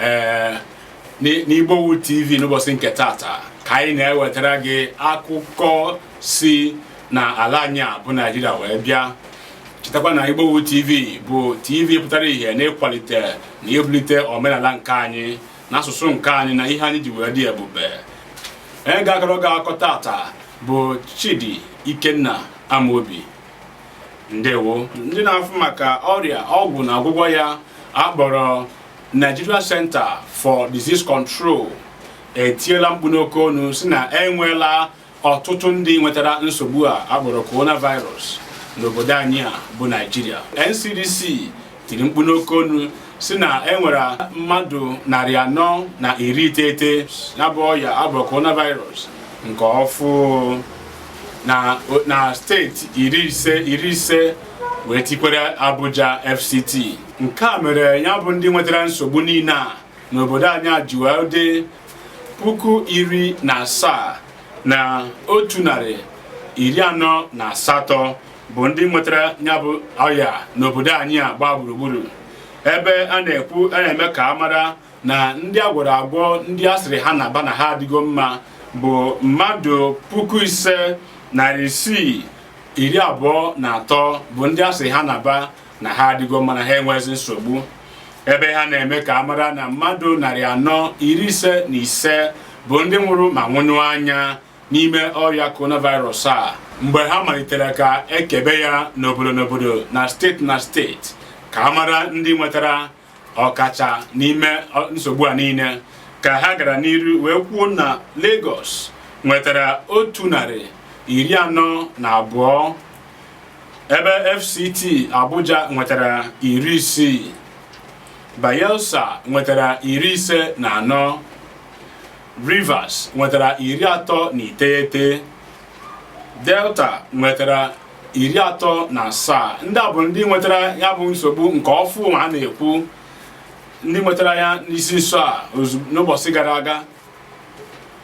ee n'Igbowood TV n'ụbọchị nke tata ka anyị na-ewetara gị akụkọ si na ala anyị a bụ Naijiria wee bịa chetakwa na Igbowood TV bụ TV pụtara ihe n'ịkwalite na ibulite omenala nke anyị na asụsụ nke anyị na ihe anyị ji wee dị ebube onye ga-akọrọ gị akụkọ tata bụ Chidi Ikenna Amobi ndewo ndị na-afụ maka ọrịa ọgwụ na ọgwụgwọ ya a kpọrọ Nigeria Center for Disease Control etiela mkpu n'oke ọnụ si na enweela ọtụtụ ndị nwetara nsogbu a a kpọrọ coronavirus n'obodo anyị a bụ Naijiria NCDC tiri mkpu n'oke onu si na e nwere mmadụ narị anọ na iri iteghete ya bụ ọya a bụ coronavirus nke ọfụ na steeti iri ise wee tikwere Abuja FCT nke a mere ya bụ ndị nwetara nsogbu niile a n'obodo anyị a ji wee dị puku iri na asaa na otu narị iri anọ na asatọ bụ ndị nwetara ya bụ ọya n'obodo anyị a gbaa gburugburu ebe a na-ekwu a na-eme ka a mara na ndị a gwọrọ agwọ ndị a sịrị ha na-aba na ha adịgo mma bụ mmadụ puku ise narị isii iri abụọ na atọ bụ ndị a sịrị ha na-aba na ha adịgo mma na ha enwezi nsogbu ebe ha na-eme ka a mara na mmadụ narị anọ iri ise na ise bụ ndị nwụrụ ma nwụnyụ anya n'ime ọrịa coronavirus a mgbe ha malitere ka e kebe ya n'obodo n'obodo na steeti na steeti ka a mara ndị nwetara ọkacha n'ime nsogbu a niile ka ha gara n'iru wee kwuo na Lagos nwetara otu narị iri anọ na abụọ ebe FCT Abuja nwetara iri isii Bayelsa nwetara iri ise na anọ Rivers nwetara iri atọ na iteghete Delta nwetara iri atọ na asaa ndị a bụ ndị nwetara ya bụ nsogbu nke ọfụ ma a na-ekwu ndị nwetara ya n'isi nso a n'ụbọchị gara aga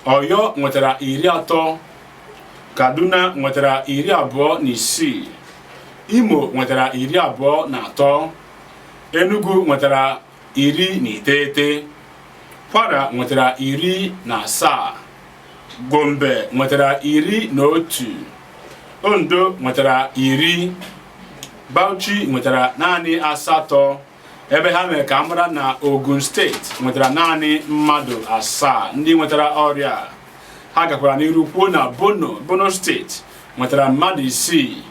Ọyọ nwetara iri atọ Kaduna nwetara iri abụọ na isii Imo nwetara iri abụọ na atọ Enugu nwetara iri na iteghete kwara nwetara iri na asaa gombe nwetara iri na otu ondo nwetara iri bauchi nwetara naanị asatọ ebe ha mere ka a mara na ogun steeti nwetara naanị mmadụ asaa ndị nwetara ọrịa ha gakwara n'iru kwuo na borno borno steeti nwetara mmadụ isii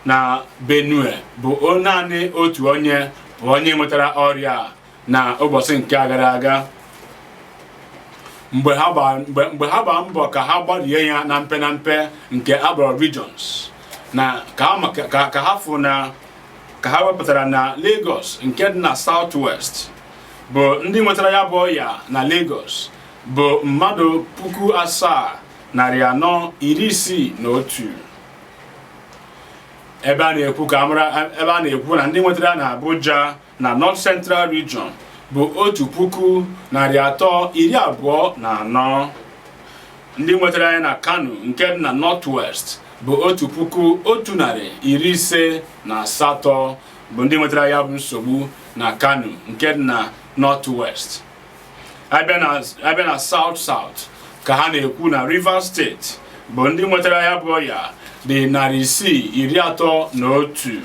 na Benue bụ naanị otu onye bụ onye nwetara ọrịa a na ụbọchị nke a gara aga mgbe ha gbaa mgbe mgbe ha gbaa mbọ ka ha gbarie ya na mpe na mpe nke akpọrọ regions na ka ha ma- ka ka ha fụ na ka ha wepụtara na Lagos nke dị na South West bụ ndị nwetara ya bụ ọya na Lagos bụ mmadụ puku asaa narị anọ iri isii na otu ebe a na-ekwu ka amara ebe a na-ekwu na ndị nwetara na Abuja na North Central Region bụ otu puku narị atọ iri abụọ na anọ ndị nwetara ya na Kano nke dị na North West bụ otu puku otu narị iri ise na asatọ bụ ndị nwetara ya bụ nsogbu na Kano nke dị na North West abịa na abịa na South South ka ha na-ekwu na Rivers steeti bụ ndị nwetara ya bụ ọya dị narị isii iri atọ na otu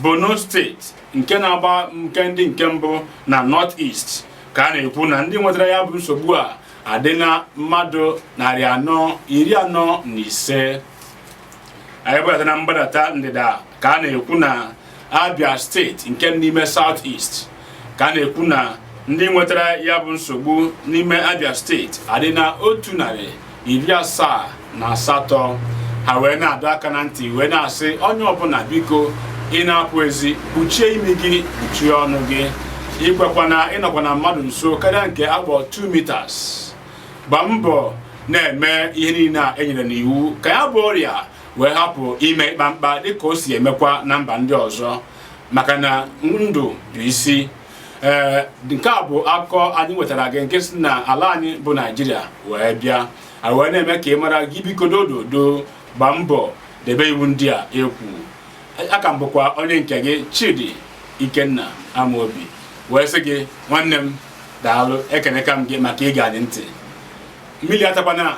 Borno steeti nke na-agba nke ndị nke mbụ na North East ka a na-ekwu na ndị nwetara ya bụ nsogbu a adị na mmadụ narị anọ iri anọ na ise anyị bụlata na mgbadata ndịda ka a na-ekwu na Abia steeti nke n'ime South East ka a na-ekwu na ndị nwetara ya bụ nsogbu n'ime Abia steeti adị na otu narị iri asaa na asatọ ha wee na-adọ aka na ntị wee na-asị onye ọbụla biko ị na-apụ ezi kpuchie imi gị kpuchie ọnụ gị ikwekwana ịnọkwana mmadụ nso karịa nke akpọ 2 meters gbaa mbọ na-eme ihe niile a enyere n'iwu ka ya bụ ọrịa wee hapụ ime ịkpa mkpa dịka o si emekwa na mba ndị ọzọ maka na ndụ bụ isi ee nke a bụ akụkọ anyị nwetara gị nke si na ala anyị bụ naijiria wee bịa a wee na-eme ka ị mara gị biko dododo gbaa mbọ debe iwu ndị a ekwu aka m bụkwa onye nke gị chidi ikenna amaobi wee sị gị nwanne m daalụ ekeneka m gị maka ige anyị ntị mmiri atakwana